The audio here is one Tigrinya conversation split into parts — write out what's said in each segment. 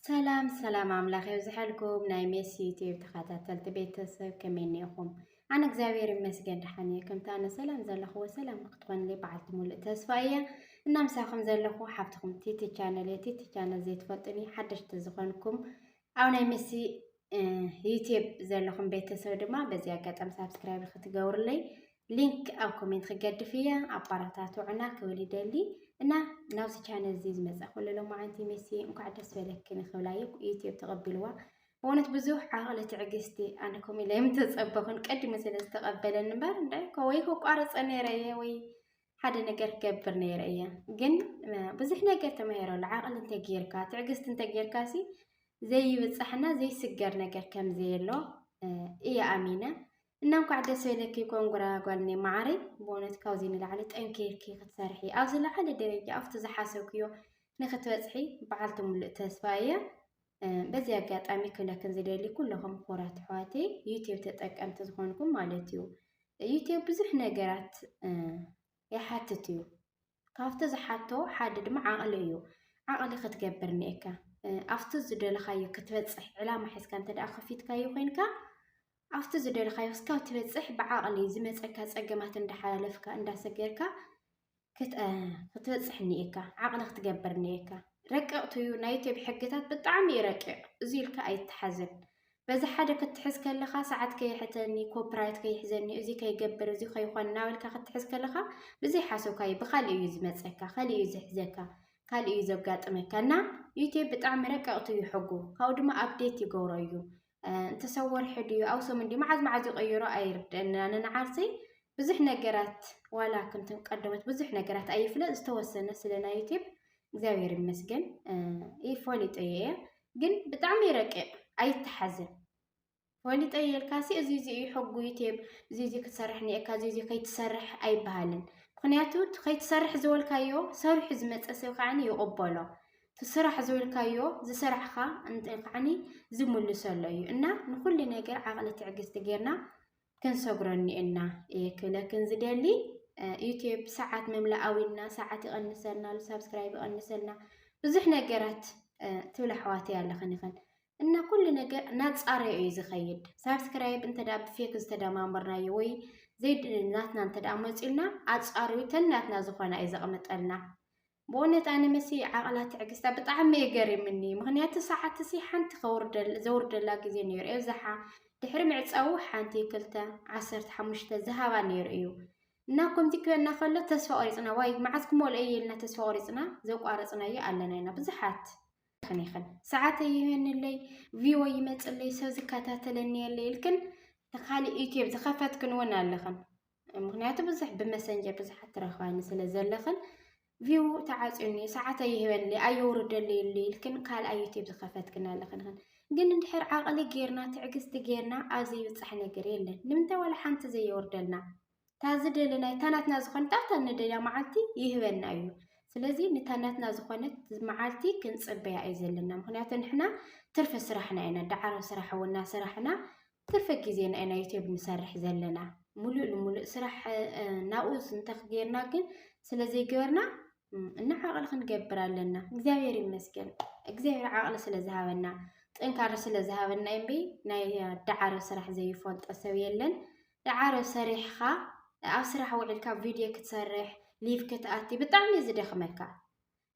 ሰላም ሰላም ኣምላኽ የብዝሐልኩም ናይ ሜሲ ዩቲዩብ ተኸታተልቲ ቤተሰብ ከመይ እኒኢኹም? ኣነ እግዚኣብሔር ይመስገን ደሓን እየ። ከምታ ኣነ ሰላም ዘለኹዎ ሰላም ንክትኾንለይ በዓልቲ ሙሉእ ተስፋ እየ እና ምሳኹም ዘለኹ ሓፍትኹም ቲቲ ቻነል እየ። ቲቲ ቻነል ዘይትፈልጡኒ ሓደሽቲ ዝኾንኩም ኣብ ናይ ሜሲ ዩትብ ዘለኹም ቤተሰብ ድማ በዚ ኣጋጣሚ ሳብስክራይብ ክትገብሩለይ ሊንክ ኣብ ኮሜንት ክገድፍ እያ ኣባራታትዑና ክብል ይደሊ እና ናብዚ ቻነል እዚ ዝመፀእኹ ለሎማዓንቲ ሜሲ እንኳዕ ደስ በለክን ክብላ እዩ ዩትብ ተቐቢልዋ በእውነት ብዙሕ ዓቕሊ ትዕግስቲ ኣነ ከምኡ ኢለ የምተፀበኹን ቀዲሙ ስለ ዝተቐበለኒ እምበር እንዳ ከወይ ከቋርፀ ነይረ እየ ወይ ሓደ ነገር ገብር ነይረ እየ ግን ብዙሕ ነገር ተማሂረሉ ዓቕሊ እንተጌርካ ትዕግስቲ እንተጌርካ ሲ ዘይብፃሕና ዘይስገር ነገር ከም ዘየሎ እየ ኣሚነ እና እንኳዕ ደስ በለኪ ኮንጉራ ጓልኒ ማዓረይ ብእውነት ካብዚ ንላዕሊ ጠንኪርኪ ክትሰርሒ ኣብ ዝለዓለ ደረጃ ኣብቲ ዝሓሰብክዮ ንክትበፅሒ በዓልቲ ሙሉእ ተስፋ እየ በዚ ኣጋጣሚ ክብለክን ዝደሊ ኩለኹም ምሁራት ኣሕዋተይ ዩትብ ተጠቀምቲ ዝኾንኩም ማለት እዩ ዩትብ ብዙሕ ነገራት ይሓትት እዩ ካብቲ ዝሓቶ ሓደ ድማ ዓቕሊ እዩ ዓቕሊ ክትገብር እኒኤካ ኣብቲ ዝደለኻዮ ክትበፅሕ ዕላማ ሒዝካ እንተ ደኣ ከፊትካዮ ኮይንካ ኣብቲ ዝደለኻዮ እስካብ ትበፅሕ ብዓቕሊ ዝመፀካ ፀገማት እንዳሓላለፍካ እንዳሰገርካ ክትበፅሕ እኒኤካ ዓቕሊ ክትገብር እኒኤካ ረቀቕቲ እዩ ናይ ኢትዮጵያ ሕግታት ብጣዕሚ እዩ ረቂቕ እዚ ኢልካ ኣይተሓዝን በዚ ሓደ ክትሕዝ ከለኻ ሰዓት ከይሕተኒ ኮፒራይት ከይሕዘኒ እዚ ከይገብር እዚ ከይኾን እናበልካ ክትሕዝ ከለኻ ብዘይ ሓሶካ እዩ ብካሊእ እዩ ዝመፀካ ካሊእ እዩ ዝሕዘካ ካልእ እዩ ዘጋጥመካ እና ዩቴብ ብጣዕሚ ረቀቕቲ እዩ ሕጉ ካብኡ ድማ ኣብዴት ይገብሮ እዩ እንተሰወርሒ ድዩ ኣውሰሙን ድዩ መዓዝ መዓዝ ይቐይሮ ኣይርድአና ኣነ ንዓርሰይ ብዙሕ ነገራት ዋላ ከምቶም ቀደሞት ብዙሕ ነገራት ኣይፍለጥ ዝተወሰነ ስለ ናይ ዩቲብ እግዚኣብሔር ይመስገን ይፈሊጦ እየ ግን ብጣዕሚ ይረቅቕ ኣይተሓዝን ፈሊጦ የልካሲ እዚ እዚ እዩ ሕጉ ዩቲብ እዚ እዚ ክትሰርሕ ኒኤካ እዚ እዚ ከይትሰርሕ ኣይበሃልን ምክንያቱ ከይትሰርሕ ዝበልካዮ ሰሪሑ ዝመፀ ሰብ ከዓ ይቕበሎ ስራሕ ዝበልካዮ ዝሰራሕኻ እንተ ከዓኒ ዝምልሰሎ እዩ እና ንኩሉ ነገር ዓቕሊ ትዕግስቲ ጌርና ክንሰግሮ እኒኤና እየ ክብለክን ዝደሊ ዩትብ ሰዓት መምላኣዊና ሰዓት ይቐንሰልና ኣሉ ሳብስክራይብ ይቐንሰልና ብዙሕ ነገራት ትብል ኣሕዋት እያ ኣለኽን ይኽን እና ኩሉ ነገር ናፃረዮ እዩ ዝኸይድ ሳብስክራይብ እንተ ብፌክ ዝተደማመርናዮ ወይ ዘይናትና እንተ መፅኡልና ኣፃሪዩ ተናትና ዝኾና እዩ ዘቕምጠልና ብኡነት ኣነ መሲ ዓቕላ ትዕግስታ ብጣዕሚ እዩ ገሪምኒ ምክንያቱ ሰዓት እሲ ሓንቲ ዘውርደላ ግዜ ነይሩ ኣብዛሓ ድሕሪ ምዕፃዉ ሓንቲ ክልተ ዓሰርተ ሓሙሽተ ዝሃባ ነይሩ እዩ እና ከምዚ ክበና ከሎ ተስፋ ቆሪፅና ዋይ መዓዝ ክመልኦ እዩ ኢልና ተስፋ ቆሪፅና ዘቋረፅናዮ ኣለና ኢና ብዙሓት ክን ይኽን ሰዓት ይህንለይ ቪዎ ይመፅለይ ሰብ ዝከታተለኒ የለ ኢልክን ንካሊእ ዩትብ ዝኸፈትክን እውን ኣለኽን ምክንያቱ ብዙሕ ብመሰንጀር ብዙሓት ትረኽባኒ ስለ ዘለኽን ቪው ተዓፅዩኒ ሰዓት ኣይህበኒ ኣይውርደሉ ኢሉ ኢልክን ካልኣ ዩቲብ ዝኸፈትክን ኣለኽን ግን እንድሕር ዓቕሊ ጌርና ትዕግስቲ ጌርና ኣብ ዘይብፃሕ ነገር የለን ንምንታይ ዋላ ሓንቲ ዘየወርደልና ታዚ ደለናይ ታናትና ዝኾነት ኣብታ ንደልያ መዓልቲ ይህበና እዩ ስለዚ ንታናትና ዝኾነት መዓልቲ ክንፅበያ እዩ ዘለና ምክንያቱ ንሕና ትርፊ ስራሕና ኢና ዳዕሮ ስራሕ ወና ስራሕና ትርፊ ግዜና ኢና ዩትዩብ ንሰርሕ ዘለና ሙሉእ ንሙሉእ ስራሕ ናብኡ ዝንተኽ ጌርና ግን ስለዘይገበርና እና ዓቕሊ ክንገብር ኣለና። እግዚኣብሔር ይመስገን እግዚኣብሔር ዓቕሊ ስለዝሃበና ጥንካረ ስለዝሃበና እምቢ ናይ ዳዓሮ ስራሕ ዘይፈልጦ ሰብ የለን። ዳዓሮ ሰሪሕኻ ኣብ ስራሕ ውዒልካ ቪድዮ ክትሰርሕ ሊቭ ክትኣቲ ብጣዕሚ እዩ ዝደኽመካ።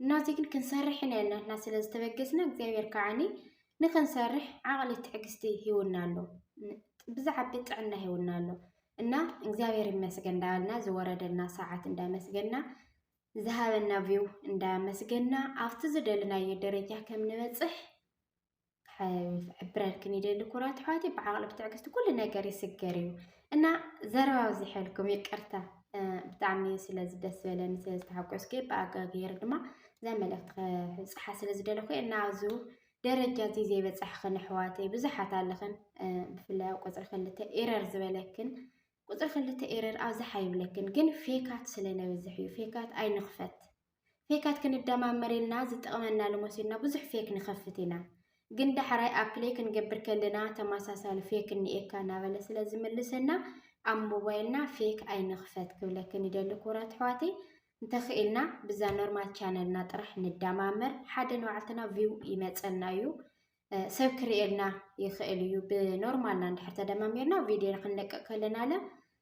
እናዚ ግን ክንሰርሕ ኢና ናትና ስለ ዝተበገስና እግዚኣብሔር ከዓኒ ንክንሰርሕ ዓቕሊ ትዕግስቲ ሂውና ኣሎ ብዛዓቢ ጥዕና ሂውና ኣሎ እና እግዚኣብሔር ይመስገን እንዳበልና ዝወረደና ሰዓት እንዳመስገና ዝሃበና ቪው እንዳመስገና ኣብቲ ዝደለናዮ ደረጃ ከም ንበፅሕ ክሕብረልክን ይደሊ ኩራት ኣሕዋት እዩ ብዓቕሊ ብትዕግስቲ ኩሉ ነገር ይስገር እዩ እና ዘረባ ኣብዚሐልኩም ይቅርታ ብጣዕሚ ስለ ዝደስ ዝበለኒ ስለ ዝተሓጎስኩ ብኣጋገይር ድማ እዛ መልእኽቲ ክብፅሓ ስለ ዝደለኹ እና ኣብዚ ደረጃ እዚ ዘይበፃሕኽን ኣሕዋተይ ብዙሓት ኣለኽን ብፍላይ ኣብ ቁፅሪ ክልተ ኤረር ዝበለክን ቁፅሪ ክልተ ኤረር ኣብዝሓ ይብለክን ግን ፌካት ስለ ነብዝሕ እዩ ፌካት ኣይንኽፈት ፌካት ክንደማመር ኢልና ዝጠቕመና ልመሲልና ብዙሕ ፌክ ንኸፍት ኢና። ግን ዳሕራይ ኣፕለይ ክንገብር ከለና ተመሳሳሊ ፌክ እኒኤካ እናበለ ስለ ዝምልሰና ኣብ ሞባይልና ፌክ ኣይንኽፈት ክብለክን ይደሊ ክቡራት ኣሕዋተይ። እንተኽኢልና ብዛ ኖርማል ቻነልና ጥራሕ ንደማመር ሓደ ንባዕልትና ቪው ይመፀና እዩ ሰብ ክርእየልና ይኽእል እዩ። ብኖርማልና እንድሕር ተደማሚርና ቪድዮ ክንለቅቅ ከለና ለ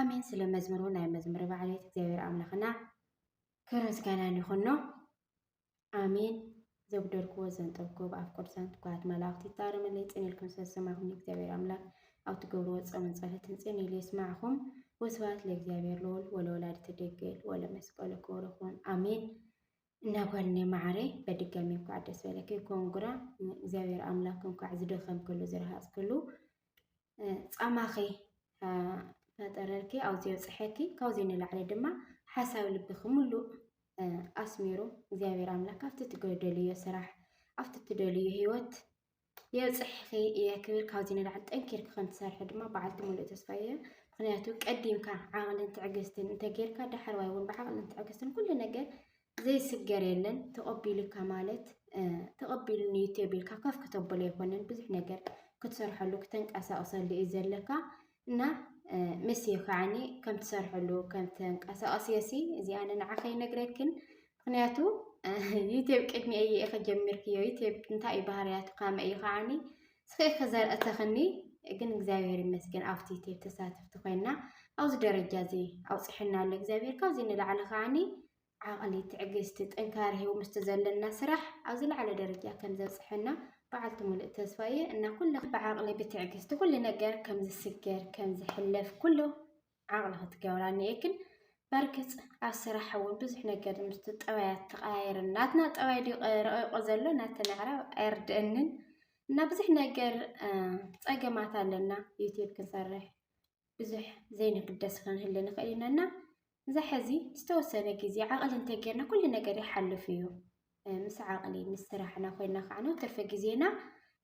ኣሜን ስለ መዝሙሩ ናይ መዝሙሪ ባዕሌት እግዚኣብሔር ኣምላኽና ክብሪ ምስጋናን ይኹኖ ኣሜን ዘጉደልክዎ ዘንጠብክዎ ብኣፍ ቅዱሳን ትኩራት መላእኽቲ ይታረመለይ ፅን ኢልኩም ስለዝሰማኹም እግዚኣብሔር ኣምላክ ኣብ ትገብርዎ ፆምን ፀሎትን ፅን ኢሉ የስማዕኹም ወስብሐት ለእግዚኣብሔር ልዑል ወለወላዲቱ ድንግል ወለመስቀሉ ክቡር ይኹን ኣሜን እና ጓልኔ ማዓረይ በድጋሚ እንኳዕ ደስ በለኪ ኮንጉራ እግዚኣብሔር ኣምላክ እንኳዕ ዝደኸምክሉ ዝረሃፅክሉ ጻማኺ ፈጠረልኪ ኣብዚ የብፅሐኪ ካብዚ ንላዕሊ ድማ ሓሳብ ልብኺ ሙሉእ ኣስሚሩ እግዚኣብሔር ኣምላክ ኣብቲ ትደልዮ ስራሕ ኣብቲ ትደልዮ ሂወት የብፅሕኺ እየ ክብል ካብዚ ንላዕሊ ጠንኪርኪ ከምትሰርሒ ድማ በዓልቲ ሙሉእ ተስፋ እየ ምክንያቱ ቀዲምካ ዓቕልን ትዕግስትን እንተጌርካ ዳሕረዋይ እውን ብዓቕልን ትዕግስትን ኩሉ ነገር ዘይስገር የለን ተቐቢሉካ ማለት ተቐቢሉኒ እዩ ተቢልካ ከፍ ክተብሎ ኣይኮነን ብዙሕ ነገር ክትሰርሐሉ ክተንቀሳቕሰሉ እዩ ዘለካ እና ምስ ከዓኒ ከም ትሰርሐሉ ከም ተንቀሳቐስ የሲ እዚኣ ንዓኸ ይነግረክን ምክንያቱ ዩትብ ቅድሚ እየ ኢኸ ጀሚርክዮ ዩትብ እንታይ እዩ ባህርያቱ ካመ እዩ ከዓኒ ጽሒፈ ዘርእተኽኒ ግን እግዚኣብሔር ይመስገን ኣብቲ ቴብ ተሳተፍቲ ኮይና ኣብዚ ደረጃ እዚ ኣውፅሐና ኣሎ እግዚኣብሔር ካብዚ ንላዕሊ ከዓኒ ዓቕሊ ትዕግስቲ ጥንካረ ሂቡ ምስቲ ዘለና ስራሕ ኣብ ዝለዓለ ደረጃ ከም ዘብፅሐና በዓልቲ ሙሉእ ተስፋ እየ እና ኩሉ ብዓቕሊ ብትዕግስቲ ኩሉ ነገር ከም ዝስገር ከም ዝሕለፍ ኩሉ ዓቕሊ ክትገብራ እኒኤክን በርግፅ ኣብ ስራሕ እውን ብዙሕ ነገር ምስቲ ጠባያት ተቐያየር ናትና ጠባይ ድዩ ረቂቆ ዘሎ ናተን ኣዕራብ ኣይርድአንን እና ብዙሕ ነገር ፀገማት ኣለና ዩትብ ክንሰርሕ ብዙሕ ዘይንግደስ ክንህል ንኽእል ኢና እና እዛ ሕዚ ዝተወሰነ ግዜ ዓቕሊ እንተጌርና ኩሉ ነገር ይሓልፍ እዩ ምስ ዓቕሊ ምስ ስራሕና ኮይና ከዓነ ትርፊ ግዜና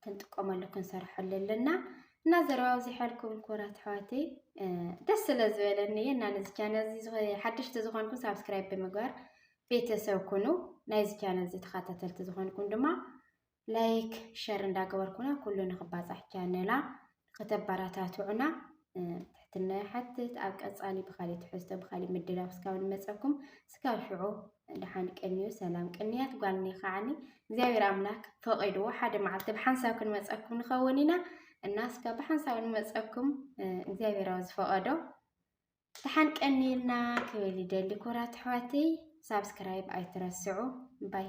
ክንጥቀመሉ ክንሰርሐሉ ኣለና እና ዘረባ ኣብዚሐልኩም ኩራት ኣሕዋተይ ደስ ስለ ዝበለኒ እየ እና ነዚ ቻነል እዚ ሓደሽቲ ዝኾንኩም ሳብስክራይብ ብምግባር ቤተሰብ ኩኑ ናይዚ ቻነል እዚ ተኸታተልቲ ዝኾንኩም ድማ ላይክ ሸር እንዳገበርኩና ኩሉ ንክባፃሕ ቻነላ ከተበረታትዑና ትሕትና ይሓትት። ኣብ ቀፃሊ ብካሊእ ትሕዝቶ ብካሊእ ምድላው እስካብ ንመፀኩም እስካብ ሽዑ ድሓን ቅንዩ ሰላም ቅንያት ጓልኒ ከዓኒ እግዚኣብሔር ኣምላክ ፈቂድዎ ሓደ መዓልቲ ብሓንሳብ ክንመፀኩም ንኸውን ኢና እና እስካብ ብሓንሳብ ንመፀኩም እግዚኣብሔራዊ ዝፈቀዶ ድሓን ቀኒልና ክብል ይደሊ ኩራት ኣሕዋተይ ሳብስክራይብ ኣይትረስዑ ባይ